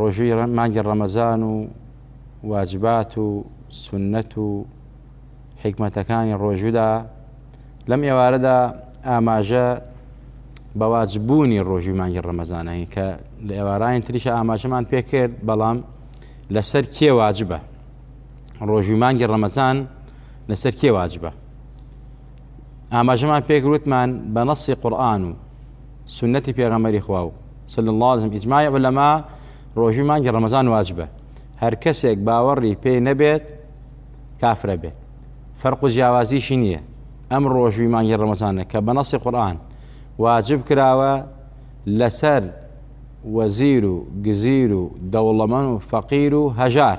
ڕۆژووی مانگی ڕەمەزان و واجبات و سنەت و حیکمەتەکانی ڕۆژوودا لەم ئێوارەدا ئاماژە بەواجبوونی ڕۆژووی مانگی ڕەمەزانەکەین کە لە ئێوارانی تریشە ئاماژەمان پێکرد بەڵام لەسەر کێ واجبە ڕۆژووی مانگی ڕەمەزان لەسەر کێ واجبە ئاماژەمان پێ گرتمان بە نەسی قورآن و سنەتی پێغەمەری خوا و صلی الله علیه و اجماع علما ڕۆژی مانگی ڕەمەزان واجبە هەر کەسێک باوەڕی پێ نەبێت کافرە بێت فەرق و جیاوازیشی نییە ئەم ڕۆژوی مانگی ڕەمەزانە کە بە نەسی قورآن واجب کراوە لەسەر وەزیر و گزیر و دەوڵەمەن و فەقیر و هەژار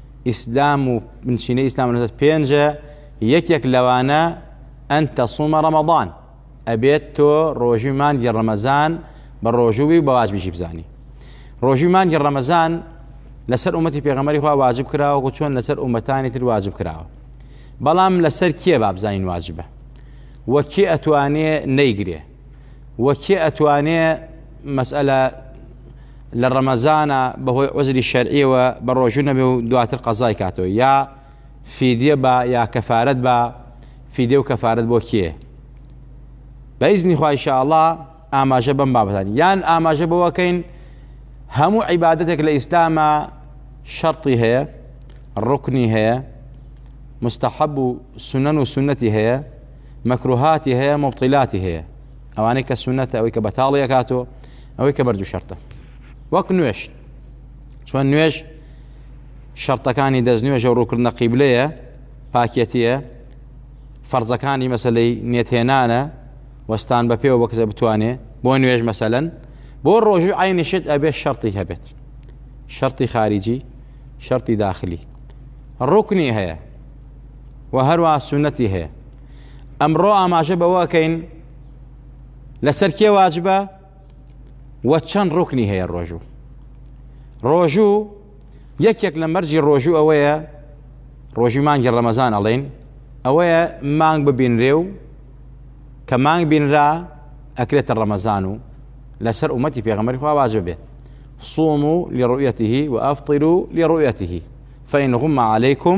ئیسلام و بنچینە ئیسلام لەسەر پێنجە یەکێک لەوانە ئەن تەسومە ڕەمەضان ئەبێت تۆ ڕۆژی مانگی ڕەمەزان بە ڕۆژووی و بەواج بژی بزانی ڕۆژی مانگی ڕەمەزان لەسەر ئومەتی پێغەمەری خوا واجب کراوە و چۆن لەسەر ئومەتانی تر واجب کراوە بەڵام لەسەر کێ بابزانین واجبە وەکی ئەتوانێ نەیگرێ وە کێ ئەتوانێ مەسئەلە لە ڕەمەزانە بەهۆی عزری شەرعیەوە بە ڕۆژوو نەبێ و دواتر قەزای کاتەوە یا فیدە بە یا کەفاەت بە فیدە و کەفاەت بۆ کێ بەیزنی خوایشەڵا ئاماژە بەم بابەتان یان ئاماژە بەوەکەین هەموو عیباەتێک لە ئیسلامە شەرتی هەیە ڕکنی هەیە مستحب و سنن و سنەتی هەیە مەکروهاتی هەیە مبطلاتی هەیە ئەوانەی کە سونەتە ئەوەی کە بەتاڵی ئەکاتۆ ئەوەی کە بەردوو شەرتە وەک نوێش چۆن نوێش شەرتەکانی دەست نوێژە و ڕووکردنە قیبلەیە پاکێتیە فەرزەکانی مەسلەی نێتهێنانە وەستان بە پێوە بەکەسە بتوانێ بۆ نوێژ مەسەلەن بۆ ڕۆژوو عینشت ئەبێ شەرتی هەبێت شەرتی خارجی شەرتی داخلی ڕوکنی هەیە و هەروە سونەتی هەیە ئەمڕۆ ئاماژە بەوەکەین لەسەر کێ واجبە و چەند ڕوکنی هەیە ڕۆژوو ڕۆژوو یەکێک لە مەرجی ڕۆژوو ئەوەیە ڕۆژی مانگی ڕەمەزان ئەڵێن ئەوەیە مانگ ببینرێ و کە مانگ بینرا ئەکرێتە ڕەمەزان و لەسەر ئومەتی پێغەمەری خوا واجب بێت صوموا لرؤيته وأفطروا لرؤيته فإن غم عليكم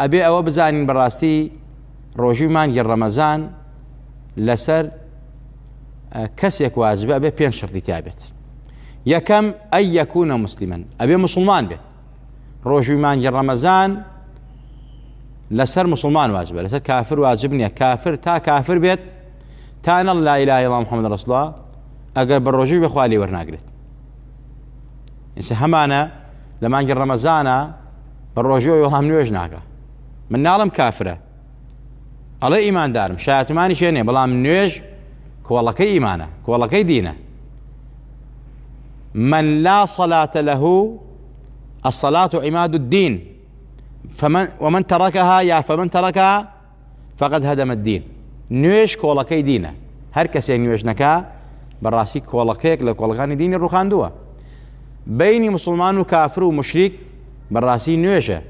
ئەبێ ئەوە بزانین بەڕاستی ڕۆژی مانگی ڕەمەزان لەسەر کەسێک واجب ئەبێ پێ شڕی تابێت یەکەم ئەی یەکوونە مسللیمەن ئەبێ مسلمان بێت ڕۆژوی مانگی ڕەمەزان لەسەر مسلمان واجبە لەسەر کافر واجب نییە کافر تا کافر بێت تانە لا لای لا محمد ڕسڵە ئەگەر بە ڕۆژوی بەخوالی وەرناگرێت ئینسە هەمانە لە مانگی ڕەمەزانە بە ڕۆژەوە وەڵام نوێژ ناکە من ناڵم کافرە ئەڵێ ئیماندارم شاتمانی شێنێ بەڵام نوێژ کۆڵەکەی ئیمانە کۆڵەکەی دینە من لا صلاة له الصلاة عماد الدين فمن ومن تركها يا فمن تركها فقد هدم الدین، نوێژ کۆڵەکەی دینە، هەر کەسێک نوێژ نەکا بەڕاستی کۆڵەکەیەک لە کۆڵەکانی دینی ڕوخاندووە، بینی مسوڵمان و کافر و مشریک بەڕاستی نوێژە،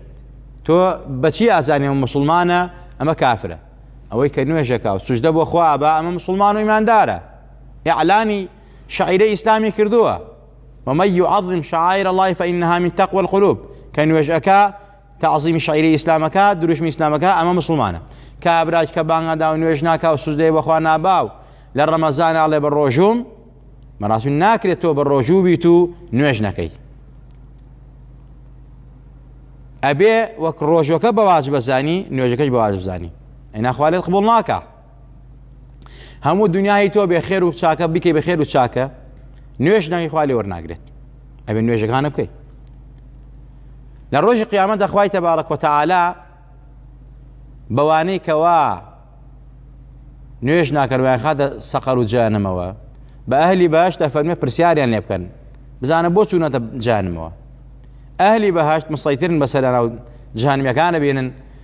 تۆ بەچی ئازانی ئەمە مسوڵمانە ئەمە کافرە، ئەوەی کە نوێژەکە و سوجدە بۆ خوا ئەبا ئەمە مسوڵمان و ئیماندارە، ئیعلانی شعیرە ئیسلامی کردووە، ومن يعظم شعائر الله فإنها من تقوى القلوب کە نوێژ ئەکا تەعزیمی شەعیرە ئیسلامەکە، دروشمی ئیسلامەکە ئەمە موسڵمانە. کابراش کە بانگ نادا و نوێژ ناکا و سوجدەی بە خوا نابا و لە ڕەمەزان ناڵێ بە ڕۆژووم، بەڕاستی ناکرێت تۆ بە ڕۆژوو بیت و نوێژ نەکەی. ئەبێ وەک ڕۆژەکە بە واجبە زانی نوێژەکەش بە واجب زانی. ئەینا خوا لێت قبوڵ ناکا. هەموو دنیای تۆ بێ خێر و چاکە بکەی بە خێر و چاکە نوێش ناوی خوا لێ وەرناگرێت ئەبێ نوێژەکانە بکەیت لە ڕۆژی قیامەت دەخوای تەبارە کۆتەعالا بەوانەی کەوا نوێش ناکەروایان خاتە سەقەر و جانمەوە بە ئەهلی باش تا فەرمە پرسیاریان لێ بکەن بزانە بۆ چوونەتە جانمەوە ئەهلی بەهشت مسەیترن بەسەرنا و جانمیەکانە بینن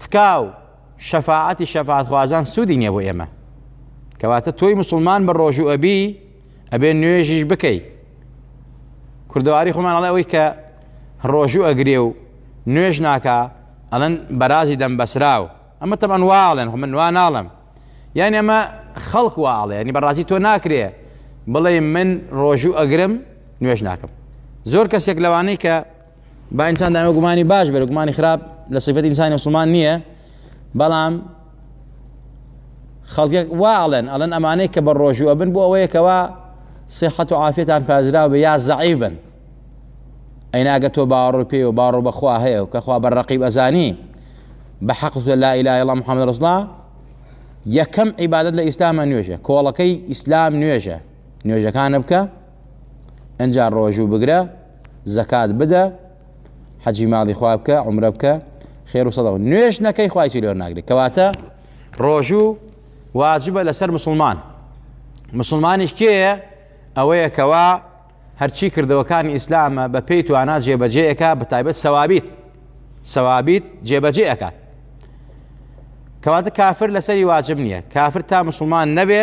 تکا و شەفاعەتی شەفاعەتخوازان سوودی نییە بۆ ئێمە کەواتە تۆی مسلمان بە ڕۆژوو ئەبی ئەبێ نوێژیش بکەی کوردەواری خۆمان ئەڵێ ئەوەی کە ڕۆژوو ئەگرێ و نوێژ ناکە ئەڵەن بەرازی دەم بەسراو ئەمە تەمان واڵێن خۆ من وا ناڵم یان ئەمە خەڵک واڵێ ینی بەڕازی تۆ ناکرێ بڵێ من ڕۆژوو ئەگرم نوێژ ناکەم زۆر کەسێک لەوانەی کە با ئینسان دائمە گومانی باش بێت گومانی خراپ لە سیفەتی ئینسانی مسلمان نییە بەڵام خەڵکێک وا ئەڵێن ئەڵەن ئەمانەی کە بە ڕۆژوو ئەبن بۆ ئەوەیەکەوە سیحەت و عافێتان پازراو بە یا زەعیف بن ئەیناگە تۆ باڕۆ پێ و باڕۆ بەخوا هەیە و کەخوا بە ڕقیب ئەزانی بە حەقت لا ئیلا ئەڵام محەممەد ڕسڵا یەکەم عیبادت لە ئیسلامە نوێژە کۆڵەکەی ئیسلام نوێژە نوێژەکانە بکە ئەجا ڕۆژوو بگرە زەکات بدە حەجی ماڵی خوا بکە عمرە بکە خێر و سەدەوە نوێش نەکەی خوای تیرۆر ناگری کەواتە ڕۆژوو واجبە لەسەر مسلمان مسلمانیش کێیە ئەوەیە کەوا هەرچی کردەوەکانی ئیسلامە بە پێی توانا جێبەجێەکە بە تایبەت سەوابیت سەوابیت جێبەجێ ئەکات کەواتە کافر لەسەری واجب نییە کافر تا مسلمان نەبێ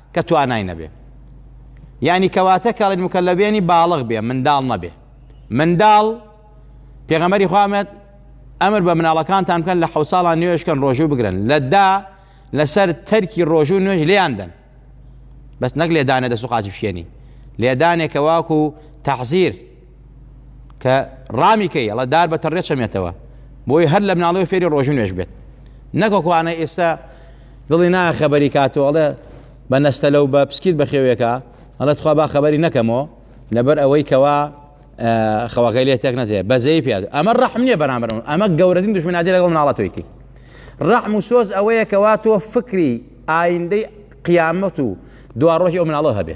کە توانای نەبێ یعنی کەواتە کەڵین مکەلەبێنی باڵغ بێ منداڵ نەبێ منداڵ پێغەمەری خوامەت ئەمر بە مناڵەکانتان بکەن لە حو ساڵان نوێشکەن ڕۆژوو بگرن لەدا لەسەر تەرکی ڕۆژوو نوێژ لێیاندن بەس نەک لێدانە دەست و قاچی بشێنی لێدانێکە واکو تەحزیر کە ڕامی کەی ئەڵە دار بە تەڕێ چەمێتەوە بۆی هەر لە مناڵەوە فێری ڕۆژن نوێش بێت نەکۆکوانە ئێستا دڵی نا خەبەری کاتەوە ئەڵێ بە نەستە لەو بە پسکیت بەخێوێکە ئەڵە تخوا با خەبەری نەکەمەوە لەبەر ئەوەی کەوا خەوەکەی لێ تێک نەتێ بەزەی پێ ئەمە ڕحم نییە بەرامبەرم ئەمە گەورەترین دژمنادی لەگەڵ مناڵە تۆیتی ڕحم و سۆز ئەوەیە کەوا تۆ فکری ئایندەی قیامەت و دواڕۆژی ئەو مناڵەوە هەبێ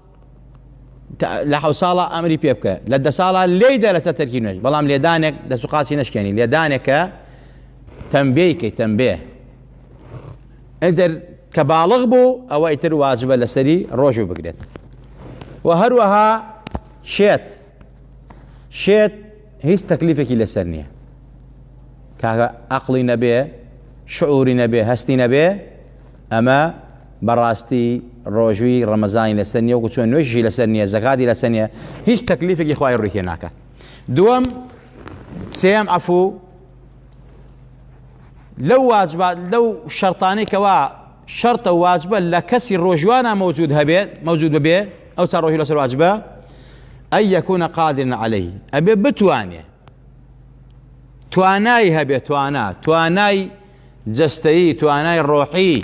لە حەوت ساڵە ئەمری پێ بکە لە دە ساڵە لێی دە لەسەر تەرکی نوێژ بەڵام لێدانێک دەست و قاچی نشکێنی لێدانێکە تەمبێیکەی تەمبێ ئەدر کە باڵغ بوو ئەوە ئیتر واجبە لەسەری ڕۆژوو بگرێت و هەروەها شێت شێت هیچ تەکلیفێکی لەسەر نییە کاکە ئەقلی نەبێ شعوری نەبێ هەستی نەبێ ئەمە بەڕاستی ڕۆژووی ڕەمەزانی لەسەر نیە وەکو چۆن نوێژی لەسەر نیە زەکاتی لەسەر نیە هیچ تەکلیفێکی خوای ڕووی تێ ناکات دووەم سێم عفو لەو واجبات لەو شەرتانەی کەوا شەرتە واجبە لە کەسی ڕۆژوانە مەوجود هەبێت مەوجود ببێ ئەو چا ڕۆژی لەسەر واجبە ئەی یەکوونە قادرن عليهەی ئەبێ بتوانێ توانای هەبێت توانا توانای جەستەیی توانای ڕۆحی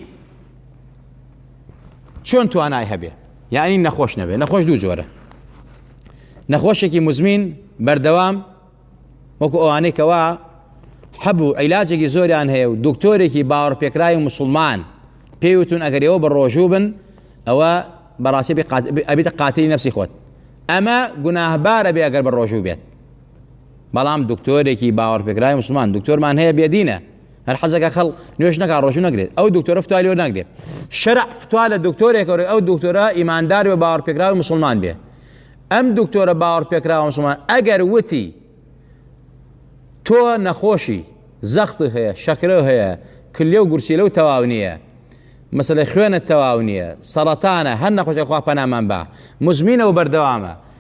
چۆن توانای هەبێ یعنی نەخۆش نەبێ نەخۆش دوو جۆرە نەخۆشێکی مزمین بەردەوام وەکو ئەوانەی کەوا حەبوو عیلاجێکی زۆریان هەیە و دکتۆرێکی باوەڕ پێکرای و مسلمان پێیوتون ئەگەر ئێوە بە ڕۆژوو بن ئەوە بەڕاستی ئەبیتە قاتلی نفسی خۆت ئەمە گوناهبارە بێ ئەگەر بە ڕۆژوو بێت بەڵام دکتۆرێکی باوەڕپێکراوی مسلمان دکتۆرمان هەیە بێدینە هەر حەزەکە خەڵ نوێش نەکا ڕۆژو نەگرێت ئەو دکتۆرە فتوای لێ ناگرێت شەرع فتوا لە دکتۆرێک ئەو دکتۆرە ئیماندار بە باوەڕپێکراوی مسلمان بێ ئەم دکتۆرە باوەڕپێکراوە مسلمان ئەگەر وتی تۆ نەخۆشی زەخت هەیە شەکرە هەیە کلێ و گورسی لەو تەواو نییە مەسلەی خوێنە تەواو نییە سەڵەتانە هەر نەخۆشە خوا پەنامان بە مزمینە و بەردەوامە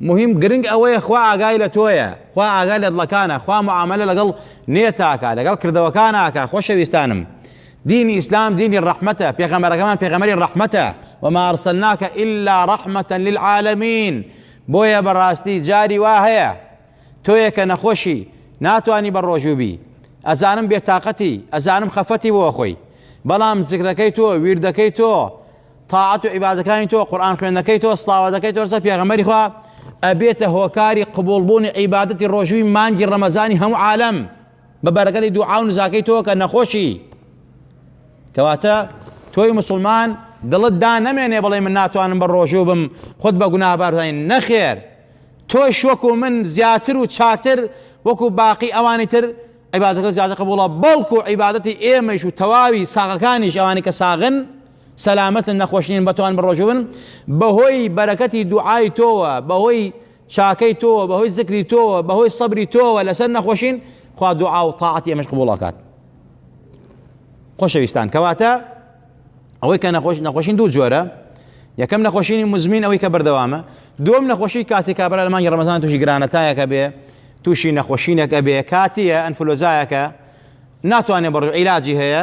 موهیم گرنگ ئەوەیە خوا ئاگای لە تۆیە خوا ئاگای لە دڵەکانە خوا معاملە لەگەڵ نێتاکە لەگەڵ کردەوەکاناکە خۆشەویستانم دینی ئیسلام دینی ڕەحمەتە پێغەمەرەکەمان پێغەمەری ڕەحمەتە وما أرسلناك إلا رحمة للعالمين بۆیە بەڕاستی جاری وا هەیە تۆیەکە نەخۆشی ناتوانی بە ڕۆژوو بی ئەزانم بێتاقەتی ئەزانم خەفەتی بۆ خۆی بەڵام زیکرەکەی تۆ ویردەکەی تۆ تاعەت و عیبادەکانی تۆ قورئان خوێندنەکەی تۆ سڵاوەتەکەی تۆ لەسەر پێغەمبەری خوا ئەبێتە هۆکاری قبوڵبوونی عیبادەتی ڕۆژووی مانگی ڕەمەزانی هەموو عالەم بە بەرەکەتی دوعا و نزاکەی تۆ کە نەخۆشی کەواتە تۆی مسلمان دڵت دا نەمێنێ بڵێ من ناتوانم بە ڕۆژوو بم خۆت بە گوناهبارزانین نەخێر تۆش وەکو من زیاتر و چاکتر وەکو باقی ئەوانی تر عیبادەکە زیاتر قبوڵە بەڵکو عیبادەتی ئێمەش و تەواوی ساغەکانیش ئەوانی کە ساغن سەلامەتن نەخۆشنین بەتوان بڕۆژوون بەهۆی بەرەکەتی دوعای تۆوە بەهۆی چاکەی تۆوە بەهۆی زکری تۆوە بەهۆی سەبری تۆوە لەسەر نەخۆشین خوا دوعا و تاعاتی ئەمەش قبوڵاکات خۆشەویستان کەواتە ئەوەی کە نەخۆش نەخۆشین دوو جۆرە یەکەم نەخۆشینی مزمین ئەوەی کە بەردەوامە دوم نەخۆشی کاتی کابرا لە مانگی ڕەمەزان تووشی گرانەتایەکە بێ تووشی نەخۆشینێکە بێ کاتیە ئەنفلۆزایەکە ناتوانێت بڕ عیلاجی هەیە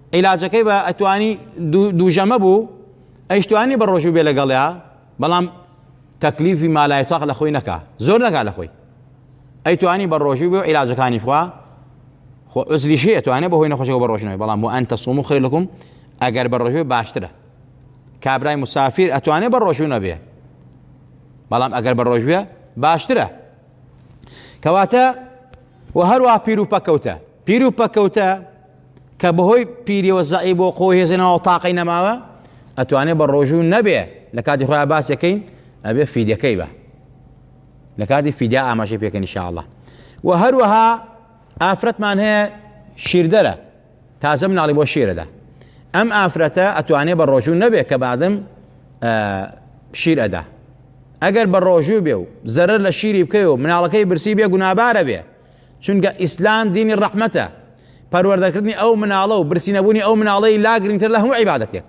عیلاجەکەی بە ئەتوانی دووژەمە بوو ئەیشتوانی بە ڕۆژوو بێ لەگەڵیا بەڵام تەکلیفی مالای تاق لە خۆی نەکا زۆر نەکا لە خۆی ئەیتوانی بە ڕۆژوو بێ و عیلاجەکانی خوا خۆ عزلیشی ئەتوانێ بە هۆی نەخۆشەوە بە ڕۆژنەوەی بەڵام بۆ ئەن تەسوم و خێر لەکم ئەگەر بە ڕۆژوێ باشترە کابرای مسافیر ئەتوانێ بە ڕۆژوو نەبێ بەڵام ئەگەر بە ڕۆژوێ باشترە کەواتە و هەروە پیرروپەکەوتە پیر و پەکەوتە کە بەهۆی پیریەوە زەعی بۆ خۆ هێزێنەوە تاقی نەماوە ئەتوانێت بە ڕۆژوو نەبێ لە کاتی خۆیان باسەکەین ئەبێ فیدەکەی بە لە کاتی فیدا ئاماژە پێکەن شاءله و هەروەها ئافرەتمان هەیە شیردەرە تازە مناڵی بۆ شیرەدا ئەم ئافرەتە ئەتوانێ بە ڕۆژوو نەبێت کە بادم شیر ئەدا ئەگەر بە ڕۆژوو بێ و زەرەر لە شیری بکەی و مناڵەکەی برسی بێ گونابارە بێ چونکە ئیسلام دینی ڕەحمەتە پەروەردەکردنی ئەو مناڵە و برسینەبوونی ئەو مناڵەی لا گرنگتر لە هەموو عیبادەتێک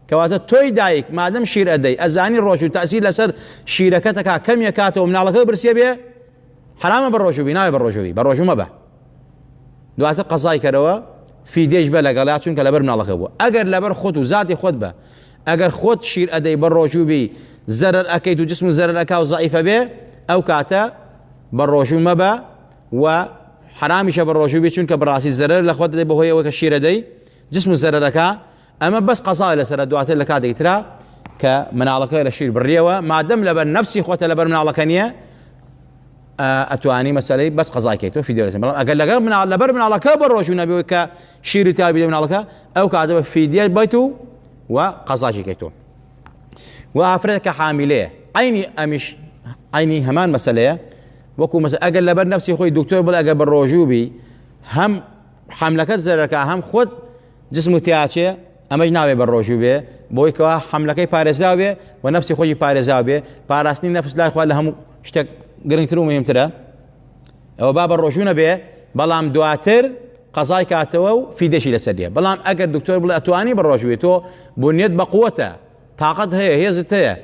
کەواتە تۆی دایک مادەم شیر ئەدەی ئەزانی ڕۆژ و تاسی لەسەر شیرەکەتەکە کەمیە کاتەوە مناڵەکە برسیە بێ حرامە بە ڕۆژوبی ناوێ بە ڕۆژوی بە ڕۆژومە بە دواتر قەزای کەرەوە فیدێش بە لەگەڵا چونکە لەبەر مناڵەکە بوو ئەگەر لەبەر خۆت و زاتی خۆت بە ئەگەر خۆت شیر ئەدەی بە ڕۆژوبی زەرەر ئەەکەیت و جسم و زەرەکە و زعیفە بێ ئەو کاتە بە ڕۆژوو مەبە و حەرامیشە بە ڕۆژوو بێ چونکە بڕاستی زەرەر لە خۆت دەدەی بەهۆی ئەوە کە شیرە دەی جسم و زەرەرەکە ئەمە بەس قەزاوە لەسرە دواتر لە کاتێکی ترا کە مناڵەکە لە شیر بڕیەوە مادەم لەبەر نفسی خۆتە لەبەر مناڵەکە نییە ئەتوانی مەسلەی بەس قەزاکەیت تۆ فیدێ بەڵام ئەگەر لەگەر مناڵ لەبەر مناڵەکە بە ڕۆژوو نەبێت کە شیری تابی لە مناڵەکە ئەو کاتەوە فیدیای بەیت و و قەزاکیکەیت تۆ و ئافرەت کە حامیلەیە عینی ئەمیش عینی هەمان مەسلەیە وەکو مەس ئەگەر لەبەر نفسی خۆی دکتۆر بڵ ئەگەر بە ڕۆژوو بی هەم حملەکەت زەرەکە هەم خۆت جسم و تیاچێ ئەمەش ناوێ بە ڕۆژوو بێ بۆی کەوا حملەکەی پارێزراو بێ و نفسی خۆی پارێزاو بێ پاراستنی نفس لای خوا لە هەموو شتێک گرنگتر و مهمترە ئەوە با بە ڕۆژوو نەبێ بەڵام دواتر قەزای کاتەوە و فیدەشی لەسەر دێ بەڵام ئەگەر دکتۆر بڵێ ئەتوانی بە ڕۆژوێ تۆ بنیێت بە قووەتە تااقەت هەیە هێزت هەیە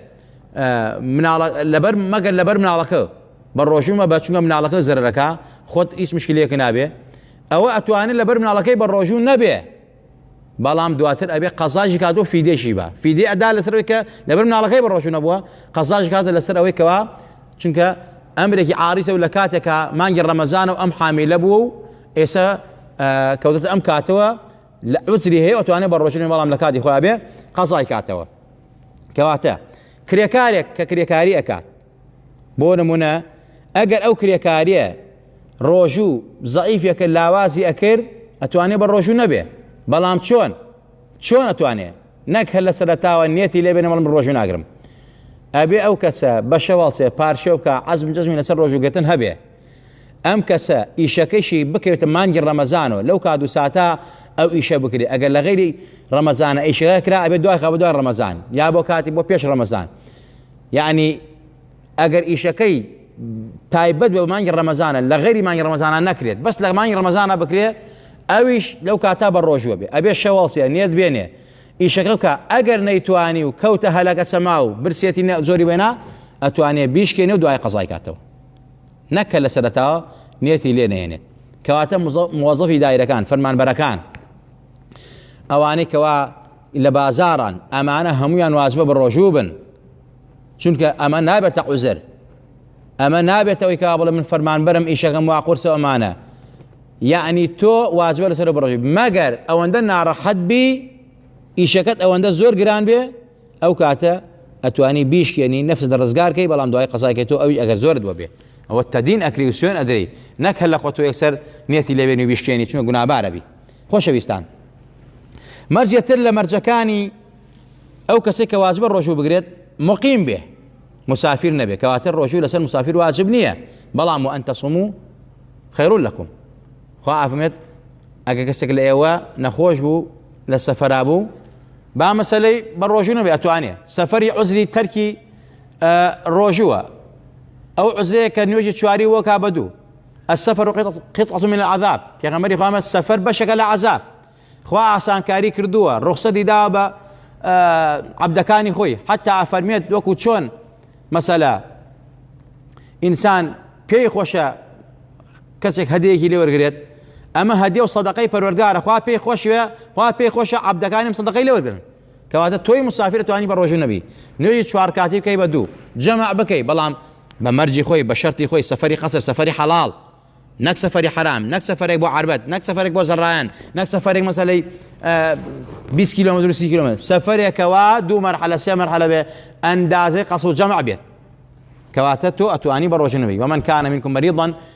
لەبەر مەگەر لەبەر مناڵەکە بە ڕۆژومە بە چونگە مناڵەکە زەرەکە خۆت هیچ مشکلەکە نابێ ئەوە ئەتوانێت لەبەر مناڵەکەی بە ڕۆژوو نەبێ بەڵام دواتر ئەبێ قەزاش کات و فیدێکی با فیدێ ئەدا لەسەر ئەوەی کە لەبەر مناڵەکەی بەڕۆژوو نەبووە قەزاش کاتە لەسەر ئەوەی کەوا چونکە ئەمرێکی عاریسە و لە کاتێکا مانگی ڕەمەزانە و ئەم حامیلە بووە و ئێستا کەوتە ئەم کاتەوە لە عوزری هەیە ئەتوانێت بە ڕۆژنی بەڵام لە کاتی خۆیان بێ قەزای کاتەوە کەواتە کرێکارێک کە کرێکاری ئەکات بۆ نمونە ئەگەر ئەو کرێکاریە ڕۆژوو زەعیفەکە لاوازی ئەکرد ئەتوانێ بە ڕۆژوو نەبێ بەڵام چۆن چۆن ئەتوانێ نەک هەر لە سەرەتاوە نێتی لێبێنە بەڵم ڕۆژوو ناگرم ئەبێ ئەو کەسە بەشە واڵچێ پارشێ بکە عزم جزمی لەسەر ڕۆژوگرتن هەبێ ئەم کەسە ئیشەکەشی بکەوێتە مانگی ڕەمەزانەوە لەو کات و ساتا ئەو ئیشە بکرێت ئەگەر لە غیری ڕەمەزانە ئیشەکە کرا ئەبێت دوای خە بە دوای ڕەمەزان یا بۆ کاتی بۆ پێش ڕەمەزان یەعنی ئەگەر ئیشەکەی تایبەت بە مانگی ڕەمەزانە لە غەیری مانگی ڕەمەزانە نەکرێت بەس لە مانگی ڕەمەزانە بکرێ ئەویش لەو کاتا بە ڕۆژوە بێ ئەبێ شەواڵسیە نێت بێنێ ئیشەکە بکە ئەگەر نەیتوانی و کەوتە هەلەکە سەما و برسێتی زۆری بێنا ئەتوانێت بیشکێنێ و دوای قەزای کاتەوە نەکە لە سەرەتاوە نێتی لێ نێنێت کەواتە موەزەفی دایرەکان فەرمانبەرەکان ئەوانەی کەوا لە بازاڕان ئەمانە هەمویان وازبە بەڕۆژوو بن چونکە ئەمە نابێتە عوزر ئەمە نابێتەوەی کا بڵێ من فەرمانبەرم ئیشەکەم وا قورسە ئەمانە یعنی تۆ واجبە لەسەر بڕژی مەگەر ئەوەندە ناڕەحەت بی ئیشەکەت ئەوەندە زۆر گران بێ ئەو کاتە ئەتوانی بیشکێنی نفس دە ڕزگارکەی بەڵام دوای قەزایکە تۆ ئەوی ئەگەر زۆر دووە بێ ئەوە تەدین ئەکری و سوێن ئەدەی نەکە لە خۆ تۆ یەکسەر نێتی لەوێنی بیشکێنی چونە گونابارەبی خۆشەویستان مەرجێ تر لە مەرجەکانی ئەو کەسێک کە واجبە ڕۆژوو بگرێت مقیم بێ مسافر نەبێ کەواتە ڕۆژوو لەسەر مسافر واجب نییە بەڵام و ئەنتە سم و خەیرون لەکم خوا ئافمێت ئەگە کەسێک لە ئێوە نەخۆش بوو لە سەفرا بوو با مەسلەی بە ڕۆژوو نەبێ ئەتوانێ سەفری عزری تەرکی ڕۆژووە ئەو عزرەیە کە نوێژی چواری وەکا بە دوو السفر قطعة من العذاب پێغەمبەری خوا فەرمووی سەفەر بەشێکە لە عەزاب خوا ئاسانکاری کردووە ڕوخسەتی داوە بە عەبدەکانی خۆی حتا ئەفەرمێت وەکو چۆن مەسەلە ئینسان پێی خۆشە کەسێک هەدەیەکی لێ وەرگێت ئەمە هەدێ و سەدەقەی پەروەردگارە خوا پێی خۆشوێ خوا پێی خۆشە عەبدەکانیم سەدەقەی لێ وەرگن کەواتە تۆی مسافر ئەتوانی بە ڕۆژوو نەبی نوێژی چوار کاتی بکەی بە دوو جەمع بکەی بەڵام بە مەرجی خۆی بە شەرتی خۆی سەفەری قەسر سەفەری حەڵاڵ نەک سەفەری حرام نەک سەفەرێک بۆ عربەت نەک سەفەرێک بۆ زەڕایەن نەک سەفەرێک مەسەلەی 20 کیلومتر و 30 کیلومتر سەفەرێکەوە دوو مەرحەلە سێ مەرحەلە بێ ئەندازەی قەسر و جەمع بێت کەواتە تۆ ئەتوانی بە ڕۆژنەوەی ومن کانە منکم مەریضن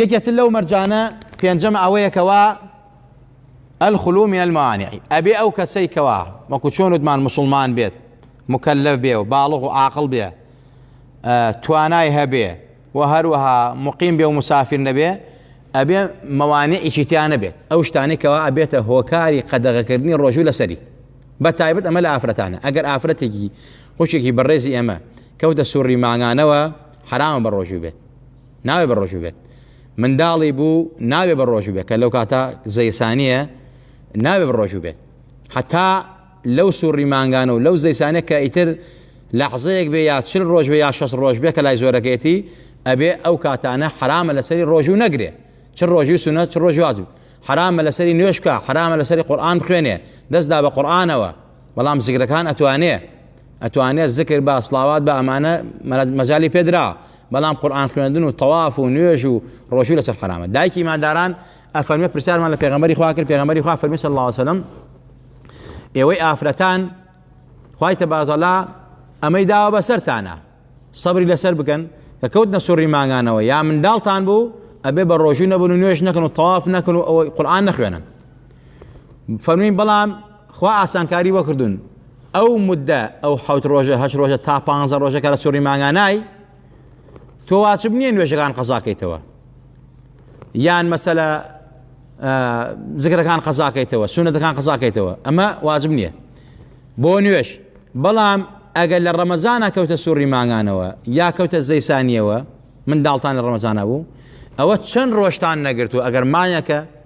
یەکێتر لەو مەرجانە پێنجەمە ئەوەیە کەوا الخلو من الموانع ئەبێ ئەو کەسەی کەوا وەکو چۆن وتمان مسلمان بێت مکلف بێ و باڵغ و عاقل بێ توانای هەبێ و هەروەها مقیم بێ و مسافر نەبێ ئەبێ مەوانەیەکی تیان نەبێت ئەو شتانێکەوە ئەبێتە هۆکاری قەدەغەکردنی ڕۆژوو لەسەری بە تایبەت ئەمە لە ئافرەتانە ئەگەر ئافرەتێکی خوشێکی بەڕێزی ئەمە کەوتە سوڕی ماگانەوە حرامە بە ڕۆژوو بێت ناوێ بە ڕۆژو بێت منداڵی بوو ناوێ بە ڕۆژو بێت کە لەو کاتە زەیسانیە ناوێ بە ڕۆژو بێت حتا لەو سوڕی مانگانە و لەو زەیسانە کە ئیتر لەحزەیەک بێ یا چل ڕۆژ بێ یا شەست ڕۆژ بێ کە لای زۆرەکەێتی ئەبێ ئەو کاتانە حرامە لەسەری ڕۆژو نەگرێ چ ڕۆژی سونە چ ڕۆژ واجب حرامە لەسەری نوێشکە حرامە لەسەری قورآان بخوێنێ دەستدا بە قورآانەوە بەڵام زگرەکان ئەتوانێ ئەتوانێت زکر بە سلااوات بە ئەمانە مەجای پێدرا بەڵام قورئان خوێندن و تەواف و نوێژ و ڕۆژوو لەسەر حەرامە دایکی ئیمانداران ئەفەرمێ پرسیارمان لە پێغەمبەری خوا کرد پێغەمبەری خوا فەرمی صلی الله علیه وسلم ئێوەی ئافرەتان خوای تەبازەڵا ئەمەی داوە بەسەرتانە سەبری لەسەر بکەن کە کەوتنە سوڕی ماگانەوە یا منداڵتان بوو ئەبێ بە ڕۆژوو نەبن و نوێژ نەکەن و تەواف نەکەن و ئەوەی قورآان نەخوێنن فەرمووین بەڵام خوا ئاسانکاری وەکردون ئەو مدە ئەو حوت ڕۆژە هەش ڕۆژە تا پ ڕۆژە کە لە سوڕی ماگانای تۆ واچب نییە نوێژەکان قەزاکەیتەوە یان مەسەلە زگرەکان قەزاکەیتەوە سونەتەکان قەزاکەیتەوە ئەمە واجب نییە بۆ نوێش بەڵام ئەگەر لە ڕەمەزانە کەوتە سوڕی ماگانەوە یا کەوتە زەیسانیەوە من داڵتان لە ڕەمەزانە بوو ئەوە چەند ڕۆشتان نەگرتو ئەگەر مایەکە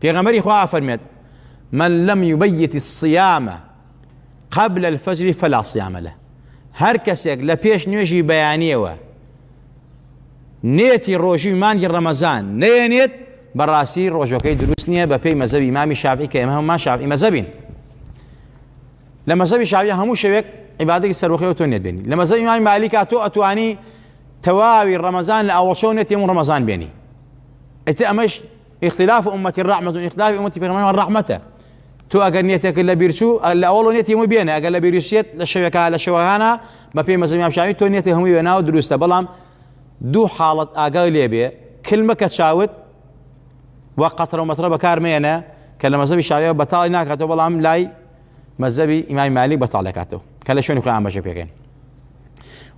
پێغەمەری خوا ئەفەرمێت من لم يبيت الصيام قبل الفجر فلا صيام له هەر کەسێک لە پێش نوێژی بەیانیەوە نێتی ڕۆژی مانگی ڕەمەزان نێنێت بەڕاستی ڕۆژەکەی دروست نییە بە پێی مەزەوی مامی شافی کە ئێمە هەمومان شافی مەزەبین لە مەزەوی شاوی هەموو شەوێک عیبادێکی سەرۆخەوە تۆ نێت بێنی لە مەزەوی مامی مالیکا تۆ ئەتوانی تەواوی ڕەمەزان لە ئەوەشەو نێتێم و ڕەمەزان بێنی ئیتر ئەمەش اختلاف امت الرحمة اختلاف امت پیغمبران رحمته تو اگر نیتێک لە بیرچوو لە ئەوڵ نیەتی هەموو بێنە ئەگەر لە بیرشێت لە شەوێکە لە شەوەهانە بە پێی مەزمی شاوی تۆ نیەتی هەمووی وێناوە دروستە بەڵام دوو حاڵەت ئاگای لێبێ کلمە کە چاوت و قەترە و مەترە بەکارمێنە کە لە مەزەبی شاویەوە بەتاڵی ناکاتەوە بەڵام لای مەزەبی ئیمای مالی بەتاڵەکاتەوە کە لە شوێنی خۆیان بەشە پێکەین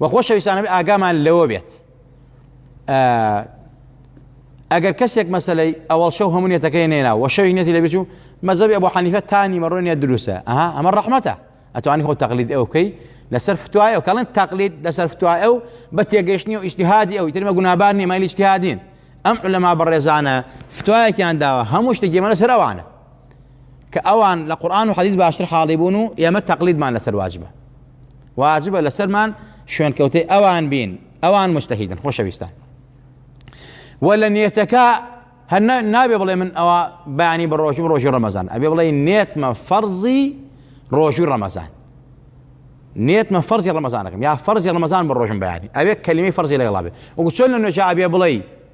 وە خۆشەویستانەبێ ئاگامان لەوە بێت ئەگەر کەسێک مەسلەی ئەوەڵ شەو هەمو نێتەکەی نێنا وە شەوی نێتی لەبیچ و مەزەبی ئەبوو حەنیفە تانی مەڕۆ نێت دروسە ئەها ئەمە ڕەحمەتە ئەتوانی خۆ تەقلید ئەو بکەی لەسەر فتوای ئەو کەڵێن تەقلید لەسەر فتوای ئەو بە تێگەشتنی و ئیشتهادی ئەو ترمە گونابار نیە مایلی اجتهادین ئەم لەما بەڕێزانە فتوایەکیان داوە هەموو شتێکی مەە سەرەوانە کە ئەوان لە قورآن و حەدیث باشتر حاڵی بوون و ئێمە تەقلیدمان لەسەر واجبە واجبە لەسەرمان شوێنکەوتەی ئەوان بین ئەوان مستەهیدن خۆشەویستان و لە نێتەکە هەر نابێ بڵێ من ئەوە بەیانی بە ڕۆژم ڕۆژی ڕەمەزان ئەبێ بڵێ نێتمە فەرزی ڕۆژوی ڕەمەزان نێتمە فەرزی ڕەمەزانەکەم یا فەرزی ڕەمەزان بە ڕۆژم بەیانی ئەوێ کەلیمی فەرزی لەگەڵا بێ وەکو چۆن لە نوێژە ئەبێ بڵێ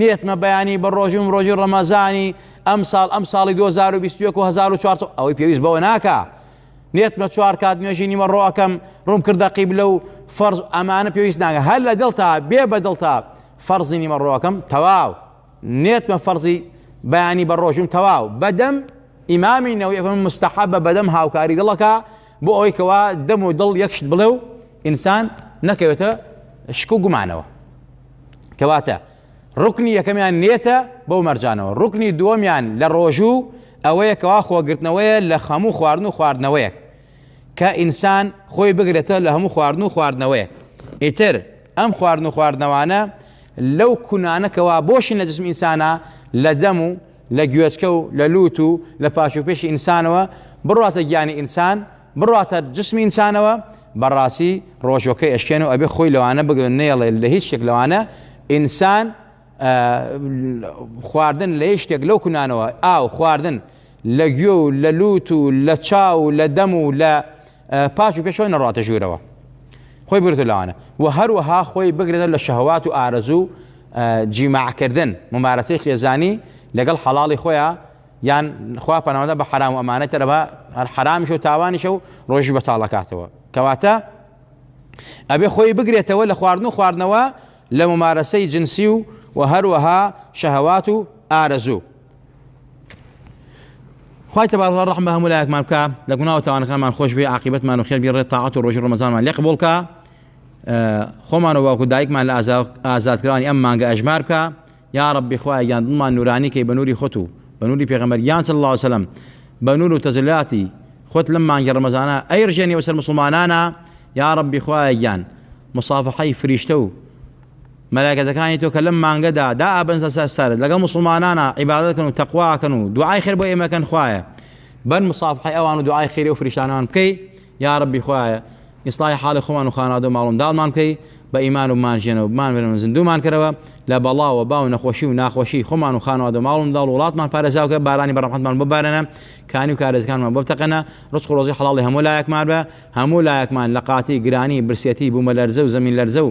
نێتمە بەیانی بە ڕۆژوم ڕۆژی ڕەمەزانی ئەم ساڵ ئەم ساڵی 2021 و 1400 ئەوەی پێویست بەوە ناکە نێتمە چوار کات نوێژی نیمە ڕۆەکەم ڕوم کردە قیبلە و فەرز ئەمانە پێویست ناگە هەر لە دڵتا بێ بە دڵتا فەرزی نیمە ڕۆەکەم تەواو نێتمە فەرزی بەیانی بە ڕۆژوم تەواو بەدەم ئیمامی نەوەی مستەحە بە بەدەم هاوکاری دڵەکە بۆ ئەوەی کەوا دەم و دڵ یەکشت بڵێ و ئینسان نەکەوێتە شک و گومانەوە کەواتە ڕکنی یەکەمیان نێتە بەو مەرجانەوە ڕکنی دووەمیان لە ڕۆژوو ئەوەیە کەوا خۆگرتنەوەیە لە خەموو خواردن و خواردنەوەیەک کە ئینسان خۆی بگرێتە لە هەموو خواردن و خواردنەوەیەک ئیتر ئەم خواردن و خواردنەوانە لەو کونانەکەەوە بۆشی نەجسم ئینسانە لە دەم و لە گوێچکە و لە لووت و لە پاشوپێشی ئینسانەوە بڕواتە گیانی ئینسان، بڕواتە جسمی ئینسانەوە، بەڕاستی ڕۆژوەکەی ئەشکێنێ و ئەبێ خۆی لەوانە بگرێ و نەیەڵێ لە هیچ شتێک لەوانە ئینسان خواردن لە هیچ شتێک لەو کونانەوە ئاو خواردن لە گوێ و لە لووت و لە چاو و لە دەم و لە پاک و پێشەوە نەڕاتە ژوورەوە خۆی بگرێتە لەوانە و هەروەها خۆی بگرێتە لە شەهوات و ئارەزوو جیماعکردن ممارەسەی خێزانی لەگەڵ حەڵاڵی خۆیان یان خوا پەناوەدە بە حرام و ئەمانە تەرەبا هەر حرامیش و تاوانیشە و ڕۆژی بەتاڵەکاتەوە کەواتە ئەبێ خۆی بگرێتەوە لە خواردن و خواردنەوە لە ممارەسەی جنسی و و هەروەها شەهوات و ئارەزوو خوای تبارک رحم بە هەموو لایەکمان بکە لە گوناه و تاوانەکانمان خۆش بێ عاقبەتمان و خێر بی ڕێ تاعات و ڕۆژی ڕمەزانمان لێ قبول کا خۆمان و باوکو دایکمان لە ئازادکرانی ئەم مانگە ئەژمار بکە یا ڕبی خوای گیان دڵمان نورانی کەی بە نوری خۆت و بە نوری پێغەمبەر گیان صلی الله وسلم بە نور و تەجلاتی خۆت لەم مانگی ڕمەزانە ئەی ڕژێنی وەسەر مسلمانانە یا ڕبی خوای گیان مصافحەی فریشتە و مەلایکەتەکانی تۆ کە لەم مانگەدا دائەبەنسە سەر سەرت لەگەڵ موسڵمانانا عیبادەت کەن و تەقوا کەن و دوعای خێر بۆ ئێمە کەن خوایە بەر مصافحەی ئەوان و دوعای خێری و فریشتانەمان بکەی یا ربی خوایە ئیسڵای حاڵی خۆمان و خانادە و ماڵم داڵمان بکەی بە ئیمان و بمانژێنەوە بمانێنەوە زیندوومان کەرەوە لە بەڵا و با و نەخۆشی و ناخۆشی خۆمان و خانوادە و ماڵم داڵ وڵاتمان پارێزاوکە بارانی بەڕەحمەتمان ببارێنە کانی و کارێزەکانمان بۆ بتەقێنە ڕزق و ڕۆزی حەڵاڵی هەموو لایەکمان بە هەموو لایەکمان لە قاتی گرانی برسێتی بوومەلەرزە و زەمین لەرزە و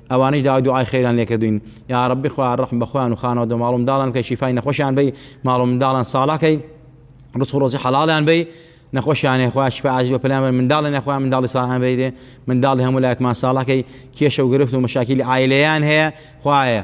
ئەوانەیش داوای دوعای خێریان لێ کردووین یاڕەبی خوایە ڕەحم بە خۆیان و خانەوەدە ماڵ و منداڵیان بکەی شیفای نەخۆشیان بەی ماڵ و منداڵیان ساڵح کەی ڕزق و ڕۆزی حەڵاڵیان بەی نەخۆشیانێ خوا شفا عاجل بە پلان بەر منداڵیان خوا منداڵی ساڵحان بەیرێ منداڵی هەموو لایەکمان ساڵحکەی کێشە و گرفت و مەشاکیلی عایلەیان هەیە خوایە